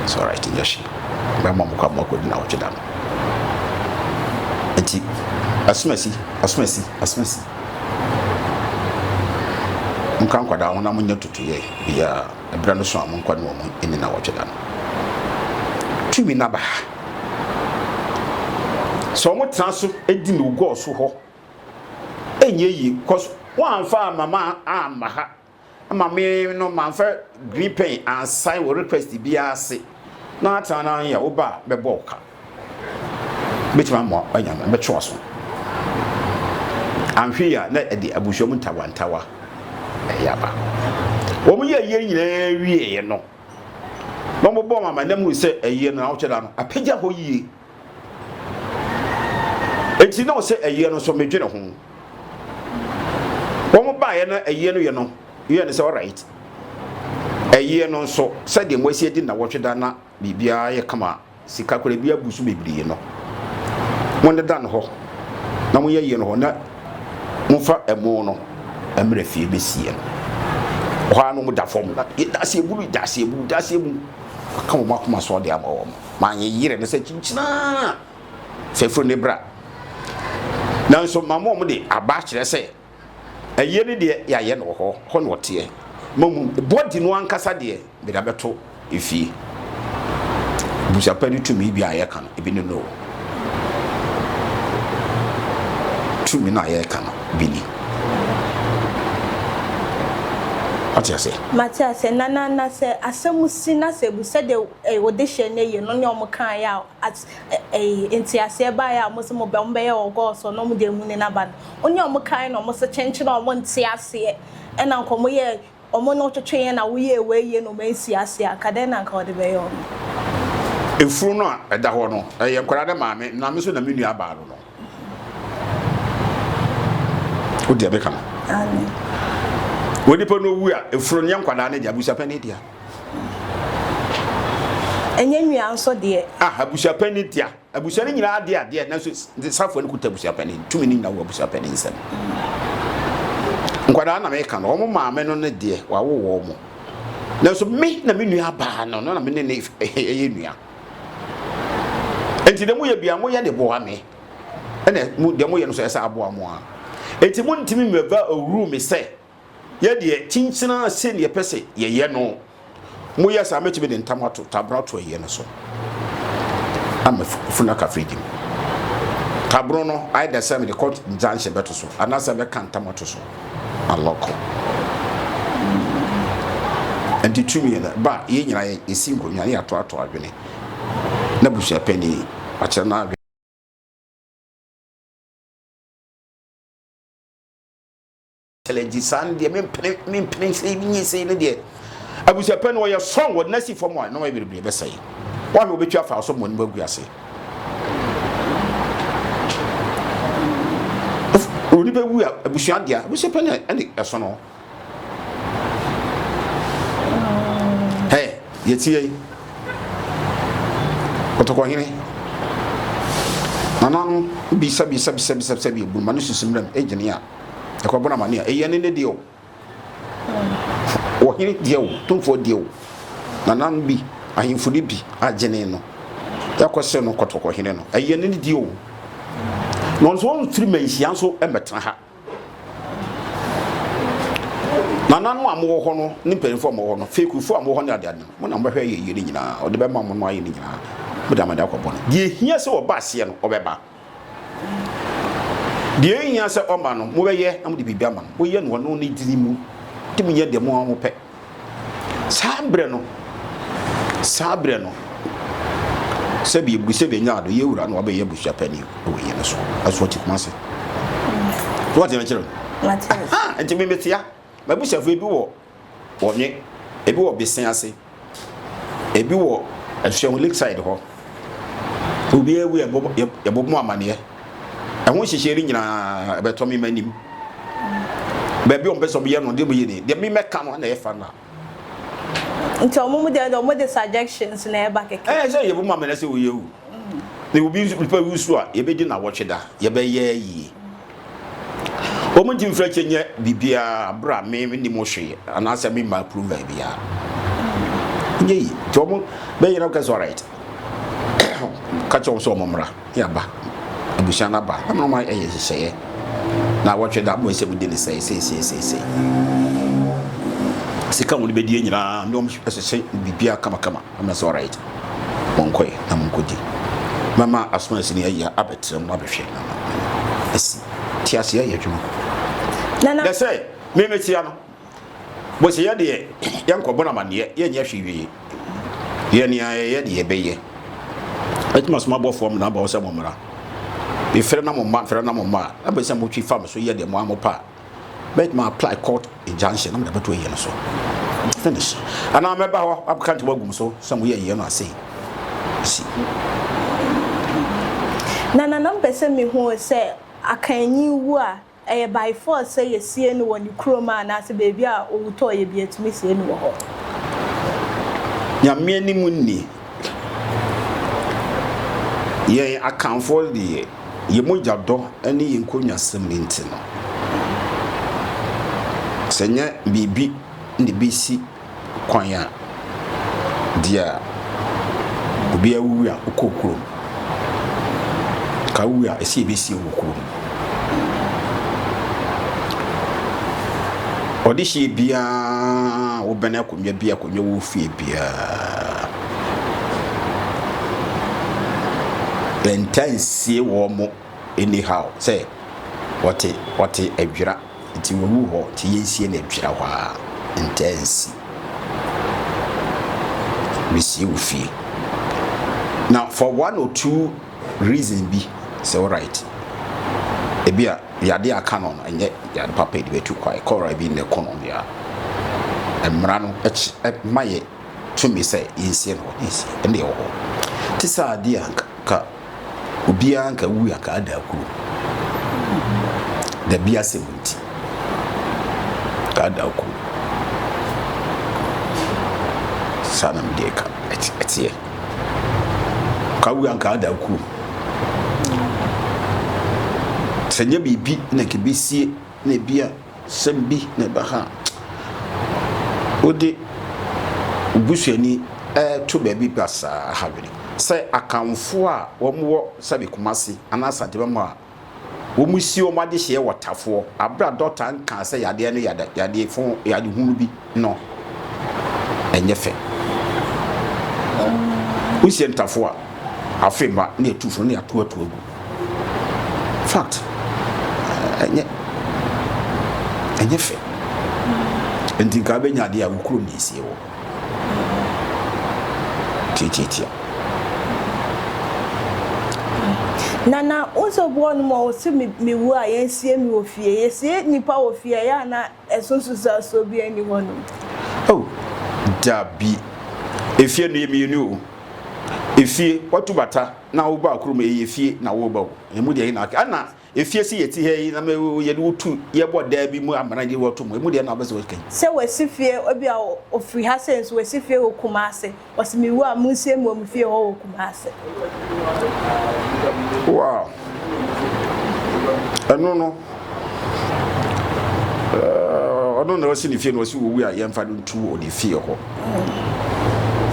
it's all right nyɛ hye bɛma mo kɔ ama kɔdi na wɔtwe da no nti asomasi asomasi asomasi nkra nkwadaa ho na monyɛ tutuyɛ biaa ɛberɛ no so a monkɔ ne wɔ mo ɛni na wɔtwe da no tumi naba ha sɛ wɔn tena so di no gɔɔ so hɔ ɛnyɛ yie cause wɔamfa amama amma ha ama me no mamfa green pen ansan wɔ request biara ase na atena na yɛ wo ba a bɛbɔ wo ka bɛtumi ama anya no bɛtwe waso anhwe a na ɛde abusua mu ntawantawa ɛyɛ aba wɔn yɛ yie nyinaa wieɛ no na wɔbɔ wɔn amanam hu sɛ ɛyɛ no na wɔkyɛ da no apagya hɔ yie Enti na ɔsɛ ɛyeɛ no nso medwene ho. Wɔn baeɛ na ɛyeɛ no yɛ no yɛ no sɛ alright. Ɛyeɛ no nso sɛdeɛ mo asi adi nnawɔtwe da na biribiara yɛ kama sika koraa bi abu so bebree no mo ne da no hɔ na mo yɛ ɛyeɛ no hɔ na momfa ɛmo no mmerɛ fie bɛsie no. Hɔ ara no mo da fam na yɛ daseɛ buru daseɛ buru daseɛ mu aka wɔn akoma so ɔde ama wɔn. Ma yɛnyerɛ no sɛ kyinkyin ara sɛ firi ne bra. Nanso ma mo a mode aba akyerɛ sɛ ayie no deɛ yɛayɛ no wɔ hɔ, hɔ na ɔteɛ. Mmom bɔdi no ankasa deɛ mede abɛto efie. Abusua pa ne tumi bi a yɛka no, ebi ne no. Tumi no a yɛka no bi ni. Wate aseɛ? Mate aseɛ, Nanana, sɛ asɛm si na sɛ abu sɛdeɛ eh, wo dehyeɛ no yɛ no ne ɔmo kaeɛ a at eh, nteaseɛ baeɛ a ɔmo se mo bɛ ɔmo bɛyɛ wɔ God so na ɔmo de amuni no aba no wo ne ɔmo kae na ɔmo se kyenkyen a ɔmo nte aseɛ ɛna nka ɔmo yɛ ɔmo ne wotwetweeɛ na woyɛɛ wei yie na ɔmo ansi aseɛ a nka dɛn na nka ɔde bɛyɛ ɔmo. Efunu no a ɛda hɔ no, ɛyɛ nkwadaa no maame na me nso na me nua baa no no. wodi a bɛka no wɔ nipa no owu a efuro nyɛ nkwadaa ne deɛ abusuapɛn ne deɛ ɛnyɛ nua nso deɛ ah abusuapɛn ne deɛ abusua no nyinaa deɛ adeɛ nanso safoɔ no kuta abusuapɛn ne tumi no nyinaa wɔ abusuapɛn ne nsɛm nkwadaa na meka no wɔn maame no ne deɛ wawo wɔn nanso me na me nua baa no no na me ne ne ɛyɛ nua Enti deɛ moyɛ bia moyɛ de boa me. Ɛna mo deɛ moyɛ no so ɛsɛ aboa mo a. Enti mo ntumi mmɛva awuru me sɛ yɛ deɛ kyinkyina sɛ deɛ pɛ sɛ yɛyɛ no. Moyɛ saa mɛtumi de ntam ato tabra to ɛyɛ no so. Ama funu aka fridge mu. Tabro no ayɛ dɛ sɛ mede kɔ nkyɛnkyɛn bɛto so anaasɛ mɛka ntam ato so. alɔko nti tumi no ba yɛn nyinaa yɛ yɛsi nkonnwa ne yɛatoato adwene na busuapɛni akyerɛ no adwene challenge saa no deɛ mempene mempene sɛ menyɛ sei no deɛ abusuapɛn no ɔyɛ strong wɔde no asi fam a nneɛma bebree bɛsɛe wahwɛ wɔbɛtwa afa so mmɔ ne mu agu ase onipa wu a abusua deɛ abusuapɛn ɛne ɛso no ɛ yɛtie yi kɔtɔkɔhene nananom bisabisabisabisabisa bi ebunuma ne susu mmerɛm egyene a ɛkɔbɔ no amane a ɛyɛ ne ne deɛ o Ɔhene deɛ o, tumfoɔ deɛ o, nananom bi, ahemfo no bi adwene no ɛkɔ sɛ no kɔtɔkɔhene no ɛyɛ ne deɛ o. Na ɔno nso ɔmfiri manhyia nso mmɛtena ha. Nananom a mowɔ hɔ no ne mpanyinfoɔ a mowɔ hɔ no, fekufoɔ a mowɔ hɔ ne adeade no, mo na mobɛhwɛ ayɛ yie no nyinaa. Ɔde bɛma mo no ayɛ no nyinaa, mode amane akɔbɔ no. Deɛ ɛhia sɛ ɔba aseɛ no, ɔbɛba. Deɛ ɛhia sɛ ɔma no, mobɛyɛ na mode biribi ama no. Moyɛ no ɔno ne dini mu, de monyɛ deɛ mo ara mopɛ. Saa berɛ no, saa berɛ no, sɛbi ebu sɛbi nya ado yɛ wura no wabɛyɛ abusua panyin wɔ yɛn no so ɛso ɔte kuma se so ɔte ne kyerɛ nti me metia mabusuafo ebi wɔ Wɔwe ebi wɔ besen ase, ebi wɔ Asuahu Lakeside hɔ. Obi awu a, yɛbɔ mu amaneɛ. Ɛho nhyehyɛe no nyinaa ɛbɛtɔ me m'anim. Baabi a wɔpɛ sɛ wɔyɛ no, deɛ wɔyɛ ni. Deɛ memɛka no na ɛfa no a. Nti wɔn mu deɛ wɔn de suggestions na ɛba kɛkɛ. Ɛɛ sɛ yɛbɔ mu amaneɛ sɛ oyi awu. Na obi nso nipa wu so a, yɛbɛdi na wɔtwe da, yɛbɛyɛ yie. Wɔn nti mfrɛ kyɛ nyɛ biribiara berɛ a me menni mo hwee anaasɛ me mma approval biara. Nyɛ yi. Nti wɔn bɛyɛ na kɛsɛ alright. Ka kyɛ wɔn sɛ wɔn mmra ne aba. Abusua no aba. Na mena wɔn ayɛ nhyehyɛeɛ. Na wɔtwe da mo nsɛm di ne sɛe sɛe sɛe sɛe sɛe. Sika wɔn bɛdie nyinaa ne wɔn hyehyɛ biribiara kama kama. Ɛna ɔsɛ alright monkɔɛ na monkɔdi mɛma asomasi no ayi abɛtrɛ mu abɛhwɛ na ma asi teaseɛ ayɛ adwuma na sɛ memetia no bɔsɛ yɛ deɛ yɛnkɔbɔ no amanneɛ yɛnyɛ hwee wie yɛ nea yɛyɛ deɛ yɛbɛyɛ ɛtumi asoma bɔfoɔ m na bɔ sɛ mo mmara mefrɛ na mo mma mfrɛ na mo mma a na bɛsɛ motwi fam so yɛ deɛ mo a mo pa mɛtumi apply court injunction na mede abɛto ayie no so finish anaa mɛba hɔ abɛka ntam agu m so sɛ moyɛ ayie no asei si na nana mpɛ sɛ mehu sɛ akanyi wu a ɛyɛ by force sɛ yɛsie no wɔ ne kurom a anaasɛ baabi a ɔwu tɔɔ yɛ bi atumi sie no wɔ hɔ nyame anim nni yɛn akanfoɔ deɛ Yɛn mogya dɔ ne yɛn nkonnwasɛm nti no, sɛ ɛnyɛ biribi na ebesi kwan a, deɛ obiara wuwu a ɔkɔ kurom. Ka wu a ɛsɛ yɛbɛsi wɔ kurom. Ɔdehyeɛ biara wobɛn akonnwa bi akonnwa wɔ fie biara. Nta nsie wɔn mo anyhow sɛ ɔte ɔte adwira nti wawu hɔ nti yɛnsie no adwira hɔ a nta nsi mesie wo fie na for one or two reason bi sɛ alright ebi a yade aka no no ɛnyɛ yade papa de bɛtu kwae kɔra bi ne kɔnɔ bia mmara no ma yɛ tumi sɛ yɛnsie no hɔ, yɛnsie, ɛnna ɛwɔ hɔ. Te sɛ adeɛ a nka obiara nka wu a nka ada akuro. Dabi asɛm nti, nka ada akuro. Saa na mede ka ɛteɛ. Ka wu a nka ada akuro. Sɛ nyɛ biribi na nka bɛsie na ebia Sɛm bi na ɛbɛka wode wo busuani reto baabi basaa ha bere sɛ Akanfoɔ a wɔwɔ sɛbe Kumasi anaa Asante Mamo a wɔsi wɔn adehyeɛ wɔ Tafoɔ, bere a dɔkta nkaa sɛ yadeɛ no yɛ yadeɛ fo, yadehunu bi. no nyɛ fɛ. Wosie ntafo a, afe mma na etu funu na ato ato agu. Fact, ɛnyɛ ɛnyɛ fɛ. Nti nka abɛnya adeɛ a wokuro na esie wɔ. Tiatiatia. Nana, wosɛ obi wɔ hɔ nom a ɔse me me wu a yɛnsie me wɔ fie. Yɛsie nnipa wɔ fie a ɛyɛ a na. So nsunsuansoɔ biara nni hɔ nom? Oh, dabi. Efie no, yɛ mmienu o. Efie, watu bata na wo ba kurom, ɛyɛ efie na woreba o. Emu deɛ hena aka? Ɛna efie se yɛte ha yi na me yɛde wo tu, yɛbɔ daa bi mu amena gye wo atom. Emu deɛ hena wobɛ sɛ wobɛka yi? Sɛ wasi fie, ebia ofiri ha sei nso wasi fie wɔ Kumasi. Ɔse me wu a monsie me wɔ me fie hɔ wɔ Kumase. Wow. Ɛno no. Eh, ɔno na ɔsi ne fie na ɔsi owu a yɛmfa no ntu wɔ ne fie hɔ.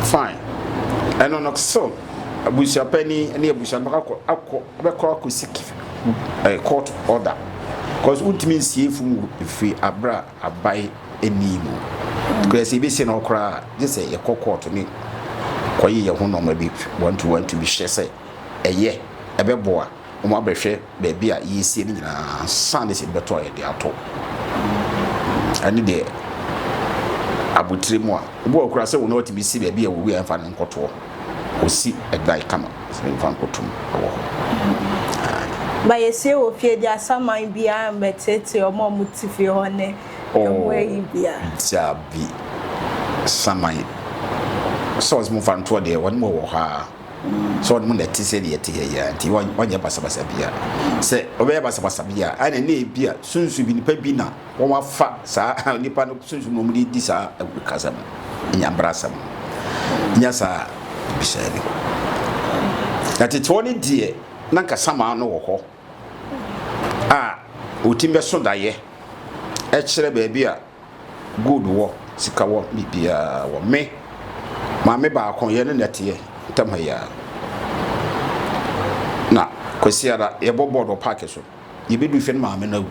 Fine. Ɛno no so abusuapani ne abusua no akɔ akɔ bɛkɔ akɔsi eh, court order. Because wontumi nsie funu firi abere a abae nni mu. Koraa sɛ yɛbɛsie no hɔ koraa a, gye sɛ yɛkɔ kɔɔto ne kɔye yɛn ho nnoɔma bi one to one to bi hwɛ sɛ ɛyɛ, ɛbɛboa, na wɔn abɛhwɛ baabi a yɛresie no nyinaa ansa na sɛ ebi bɛtɔ a yɛde atɔ. Ɛne deɛ abotire mu a, ebi wɔ hɔ koraa sɛ wɔn na wɔtumi si baabi a wɔwui a yɛmfa no nkɔtoɔ. Wɔsi ɛdan kama sɛ yɛmfa nkɔtom wɔ hɔ. Ma yɛsie wɔ fie deɛ asaman biara mmɛteetee wɔn a wɔte fie hɔ ne. dabi saman sɛ ɔsɛ mo fa ntoɔ deɛ wɔn mo wɔ hɔ a sɛ wɔn mo na ɛte sɛ deɛ ɛte yɛ yɛ nti wɔnyɛ basabasa bia sɛ ɔbɛyɛ basabasa bia a ɛna ne ebi a sunsu bi nipa bi na wɔn afa saa nipa no sunsu na wɔn de di saa kasa no nyambra asɛm nya saa bisɛ no na tete wɔn deɛ na nka saman no wɔ hɔ. a wɔtumi bɛso daeɛ kyerɛ baabi a gold wɔ sika wɔ biribiara wɔ me maame baako yɛ ne nɛteɛ ntam ha yi ara na kwasiara yɛbɔ bɔɔl wɔ paaki so yɛbɛdu fɛ no maame no awu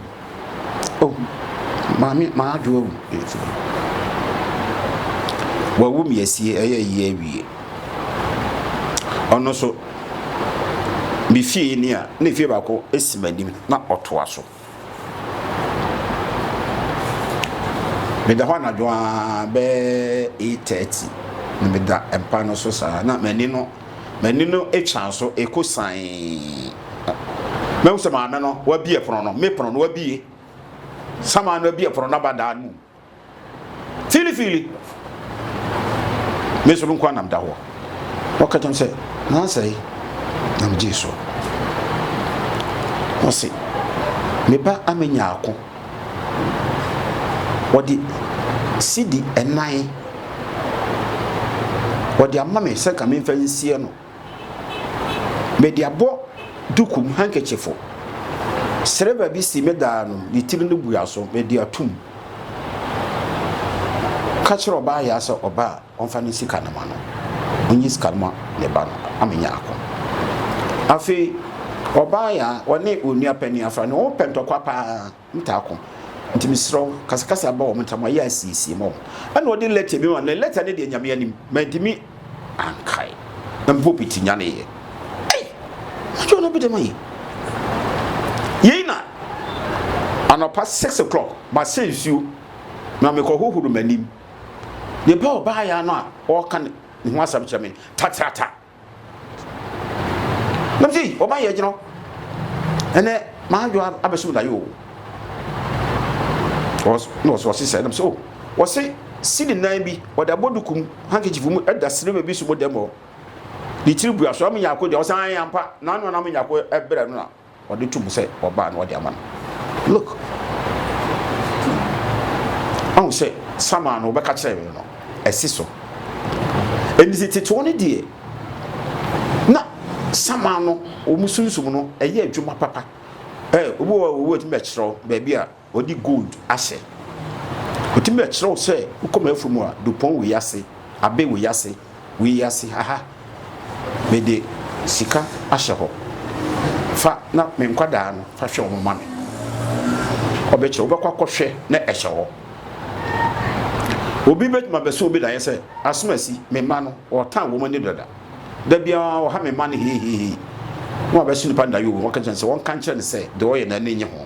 Oh, maame m'adwo awu ɛfie Wawu me asie ɛyɛ yie awie Ɔno so me fie ni a ne fie baako si m'anim na ɔtoa so Meda hɔ anadwo a bɛɛ 8:30 na meda mpa no so saa na m'ani no M'ani no twaa so kɔ sian. Mahu sɛ maame no wabie pono no, me pono no wabie. Sama no abie pono no aba dan no mu. Fiilifiili. Me nso me nko anam da hɔ. Ɔka kyɛm sɛ, nansa yi, na megyee so. Ɔse, me ba amenya ako. wɔde sidi nnan wɔde ama me sɛ nka memfa nsie no mede abɔ dukum handkerchiefo sereba bi si me daa no ne tiri no bua so mede atum ka kyerɛ ɔbaa yɛ sɛ ɔbaa Ɔmfa ne sika no mma no. Ɔnyi sika no mma ne ba no ama anya ako. Afei ɔbaa yi a ɔne wɔn nua panin afra no, wɔpɛ ntɔkwa pa ara, wɔpɛ ako. Nti mesrɛ wo, kasakasa ba wɔn ntam, wɔayɛ asiesie ma wɔn. Ɛnna ɔde lɛta bi ma no, na lɛta no deɛ Nyame anim, mantumi ankae. Na me pulpit nyaneeɛ. Ei! Madwo ɔno bi dɛm ayi. Yei na anɔpa six o'clock, masɛ nsuo, na mekɔhohoro m'anim. Nipa a ɔbaa ya no a ɔreka ne ho asɛm kyerɛ me tatrata. Na me sɛ ɔbaa yɛ gyina hɔ. Ɛnɛ maa adwo abɛsom da yi o. Na ɔsɛ ɔse sɛ na me sɛ o. Oh, ɔse sidi nan bi ɔde abɔ duku mu handkerchief mu ɛda silver bi so mu dɛm hɔ. Ne tiri bua so ama nyako deɛ ɔsan ayɛ ampa. Na ano na ama nyako ɛbrɛ no na. Ɔde to mu sɛ ɔbaa na ɔde ama no. Look! Ɔhu sɛ Samuel no ɔbɛka kyerɛ me no ɛsi so. Ɛnti sɛ tetoɔ no deɛ na Samuel no wɔn sunsum no ɛyɛ adwuma papa. Ɛɛ obi wɔ hɔ a owu atumi bɛkyerɛw baabi a. Wɔde gold ahyɛ. Wɔtumi na kyerɛw sɛ wokɔ m'afuru mu a, Dupɔn wei ase, Abe wei ase, wei ase, ha ha. Mede sika ahyɛ hɔ. Fa na me nkwadaa no, fa hwɛ wɔn ma me. Ɔbɛkyerɛ, wobɛkɔ akɔhwɛ na ɛhyɛ hɔ. Obi bɛtumi abɛso obi daeɛ sɛ, asomasi, me mma no, ɔtan wɔn ani dada. Da biara ɔha me mma no hehehehe. Na wabɛso nipa no daeɛ o, na waka kyerɛ no sɛ wɔnka nkyerɛ no sɛ deɛ ɔyɛ no ani nnye ho.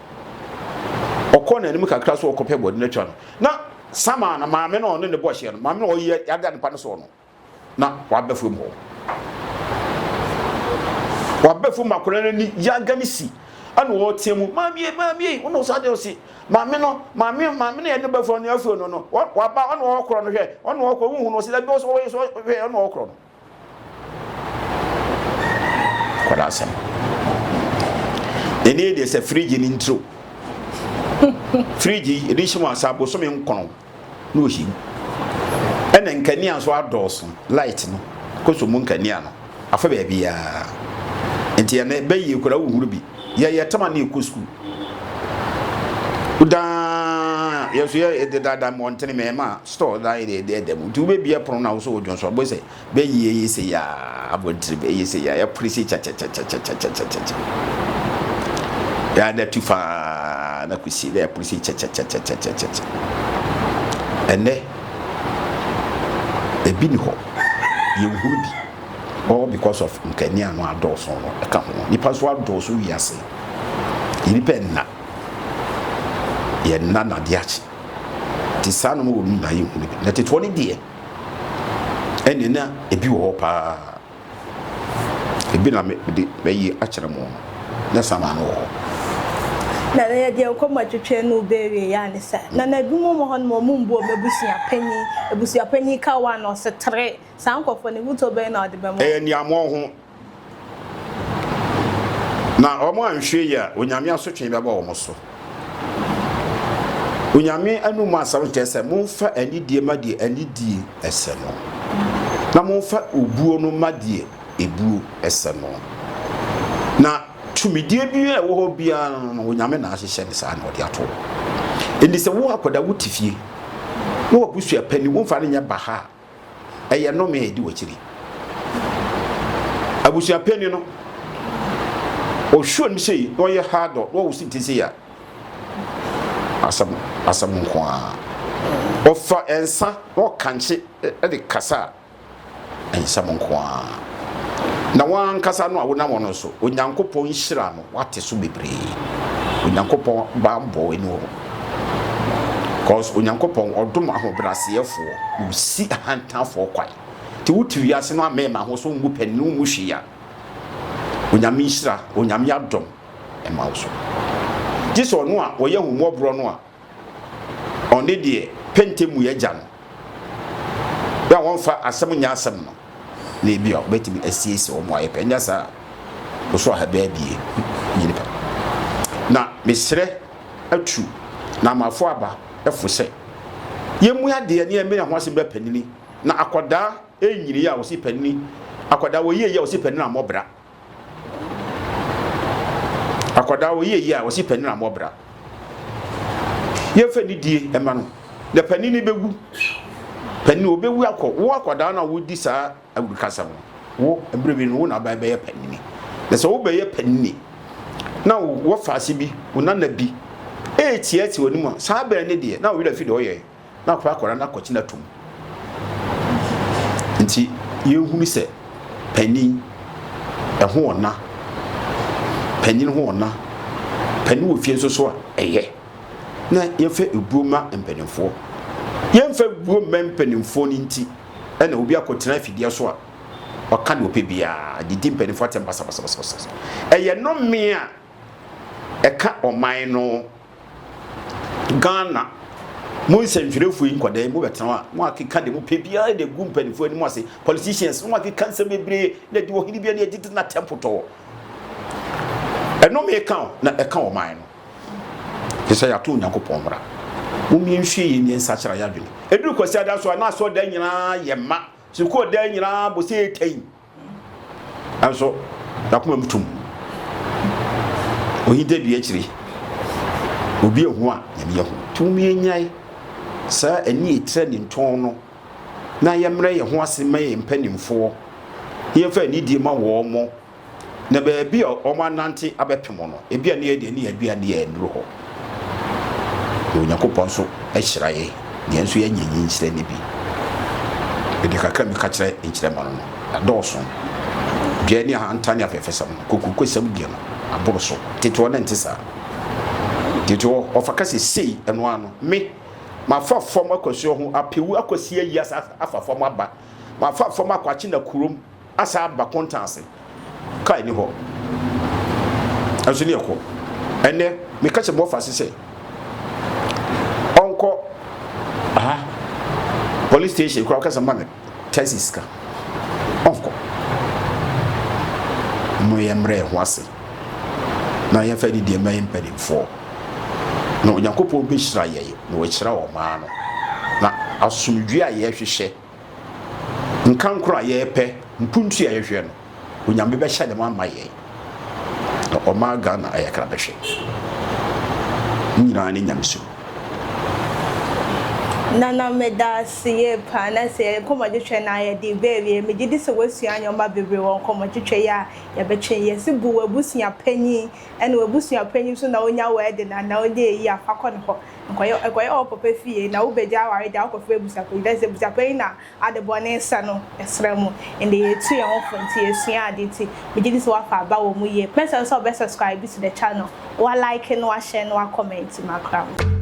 ɔkɔ n'anim kakra so ɔkɔpɛ bɔde no atwa no na sama na maame no ɔne ne bɔ hyɛ no maame no ɔyɛ yada nipa no so no na wabɛ fam hɔ wabɛ fam akɔla no ani yaga ne si ɛna ɔteɛ mu maame maame ɔna ɔsa deɛ ɔsi maame no maame maame no yɛ ne bɛ fam no afei no no waba ɔna ɔkorɔ no hwɛ ɔna ɔkorɔ huhu no ɔsi dɛbi ɔsɔ ɔyɛ sɔ hwɛ ɔna ɔkorɔ no. kɔda asɛm ɛne deɛ sɛ fridge ne ntiro fridge ɛde hyɛ mu asa bosome nkɔnɔ na ɔhyɛ mu ɛna nkanea nso adɔɔso light no kɔsɔ mu nkanea no afa baabiaa nti ɛnɛ bɛyie kora wohuru bi Yɛyɛ tama na yɛkɔ sukuu. Wodaa yɛn so yɛ dedaada mu ɔntene mɛ ma store da yɛ deɛ deɛ da mu. Nti wobɛbia pono na wosɔ odwonso abɔ sɛ bɛyi ɛyɛ sɛ yɛ abɔntiri bɛyɛ sɛ yɛ ɛpere sɛ kyɛkyɛkyɛkyɛkyɛkyɛkyɛkyɛ. Yɛ ada tu faa na kusi na ɛpere sɛ kyɛkyɛkyɛkyɛkyɛkyɛkyɛ. Ɛnɛ ebi ni hɔ yɛnhunu bi. All because of nkani ano adɔɔso no ɛka ho. Nipa nso adɔɔso wiase. Yɛ nipa ɛnna. Yɛ nna na adeɛ akye. Nti saa nom wɔ mu nyinaa yɛ nhunu bi. Na tetefoɔ no deɛ ɛne na ebi wɔ hɔ paa. Ebi na me de bɛyi akyerɛ mo no. Na sama no wɔ hɔ. Na na yɛde yɛn kɔn mu atwetwe no bɛ awie yɛ a ne saa. Na na ebinom wɔ hɔ nom a wɔn mbu wɔn abusua panyin. Abusua panyin ka one ɔse three. Saa nkurɔfoɔ no, ahotɔ bɛn na wɔde bɛma wɔn? Ɛyɛ nea wɔn ho, na wɔn anhwɛ yie a, Onyame asotwee bɛba wɔn so. Onyame anum mu asɛm no kyerɛ sɛ, Monfa anidie ma deɛ anidie sɛ no, na monfa obuo no ma deɛ ebuo sɛ no. Na tumidie biara a ɛwɔ hɔ biara no, Onyame na ahyehyɛ no saa na ɔde ato hɔ. Enti sɛ wo akwadaa wo te fie, na w'abusua panin, womfa no nyɛ baha a, ɛyɛ nnome a ɛdi wakyiri abusua panyin no ɔhwɛ nim sei na ɔyɛ hardɔ na ɔwo si nti sei a asɛm asɛm nko a ɔfa nsa na ɔkankye de kasa a nsɛm nko a na wankasa no a wonam ɔno so onyankopɔn nhyira no Wate so bebree. Onyankopɔn banbɔ w'ani wɔ hɔ. Cause Onyankopɔn ɔdom ahobrɛaseɛfoɔ, na ɔsi ahantanfoɔ kwan. Nti wote wiase no amema ho sɛ wommu pɛ ne wommu hwee a, Onyame nhyira, Onyame adom ɛma wo so. Gyesɛ Ɔno a ɔyɛ ahummɔborɔ no a. ɔne deɛ pɛntɛ mu yɛ gya no bɛ a wɔmfa asɛm nyɛ asɛm no na ebi a wɔbɛtumi asiesie wɔn ayɛ pɛ nyɛ saa ɔso ahabɛ abie nyini pɛ na mesrɛ atu na amafo aba ɛfo sɛ yɛmu adeɛ ne ɛmene ho asɛm bɛ panini na akwadaa ɛnyini yɛ a wɔsi panini akwadaa wɔyie yɛ a wɔsi panini ammɔbra akwadaa ɔyɛ yie a wɔsi panin ammɔ bra yɛmfa nidie ɛma no na panin no bɛwu panin ɔbɛwu akɔ wo akwadaa no a wodi saa awurukasa no wo mmerɛ bi no wo na aban bɛyɛ panini na sɛ wobɛyɛ panini na wɔfa ase bi wo nana bi ɛɛtiatia w'anim a saa bɛn ne deɛ na wo werɛ fi deɛ ɔyɛ na wapɛ akwadaa no akɔtena atum. Nti yɛnhunu sɛ panin ɛho ɔna, panin ho ɔna, panin wɔ fie nso so a ɛyɛ na yɛmfa ebuo ma mpanimfoɔ. Yɛmfa ebuo mma mpanimfoɔ no nti ɛna obi akɔtena afidie so a ɔka deɛ ɔpɛ biara de di mpanimfoɔ atɛm basabasabasa. Ɛyɛ nnome a ɛka ɔman no. Ghana, mo nsɛntwerɛfoɔ yi nkwadaa yi mobɛtena hɔ a mo akeka deɛ mopɛ biara de agu mpanimfoɔ anim ase politicians mo akeka nsɛm bebree na ɛde ɔhene biara ne ɛde tena tɛmpotɔɔ ɛno meka o na ɛka ɔman no te sɛ yɛato onyankopɔn mmara momie nhwie yɛ nyɛ nsakyera yɛ adwene ɛduru kwasi ada so a na asɔ da nyinaa yɛ ma sukuu da nyinaa bɔ sɛ ɛtɛn Nanso n'akoma mu tum. Ohinta dua akyiri. Obi ehu a nyame ehu. Tumi enyae saa ani etira ne ntɔn no na yɛmmerɛ yɛn ho ase ma yɛn mpanimfoɔ na yɛmfa anidie ma wɔn mo na baabi a wɔn anante abɛpem no ebi a ne yɛ deɛ ne yɛ adua ne yɛ nnuru hɔ. Na Onyankopɔn nso hyira yɛn na yɛn nso yɛanya nhyira no bi. Mede kakra a meka kyerɛ nkyerɛ ma no no, ɛdɔɔso. Dua ne ahantan ne afɛɛfɛsɛm no, kokurokosɛm deɛ no, aboro so. Tete hɔ na ɛnte saa. Tete hɔ, ɔfa ka sɛ, Sei, ɛno ara no, me, mafa fam akɔ asuo ho, apɛ wu akɔsi ayi asa afa fam aba, mafa fam akɔ Akyena kurom, Asan aba kontan ase. Car nni hɔ. Ɛnso ne ɛkɔ. Ɛnnɛ, meka kyerɛ Bɔfase sɛ ɔnkɔ aha police station koraa ɔka sɛ ma no taxi sika. Ɔnkɔ. Mo yɛ mmerɛ yɛn ho ase na yɛmfa ne deɛ ma yɛn mpanimfoɔ na Onyankopɔn bɛhyira yɛn na wahyira ɔmaa no na asomdwie a yɛhwehwɛ nkankoro a yɛrepɛ mpuntu a yɛhwɛ no onyame bɛhyɛ ne ma ama yɛn na ɔma ghana ayɛ kra bɛhwɛ ne nyinaa ne nyame so nana meda ase yie paa na sɛ yɛ nkɔmmɔtwetwe no a yɛde bɛawie megye di sɛ woasua nneɛma bebree wɔ nkɔmmɔtwetwe yɛ a yɛbɛtwe yɛse bu w'abusua panyin ɛna w'abusua panyin nso na wonya w'ɛde no anaa wode ayi afa kɔ ne hɔ Nkɔyɛ nkɔyɛ wo papa fie na wobɛgya aware gya wokɔfrɛ abusuapanyin dɛ sɛ abusuapanyin na ade bɔne sɛ no ɛsra mu ɛndɛ yɛtu yɛn ho fo nti yɛsua ade nti megye di sɛ woafa aba wɔ mu yie mɛsrɛ wo sɛ wobɛ subscribe to the channel wa like na wa share na wa comment makra mo.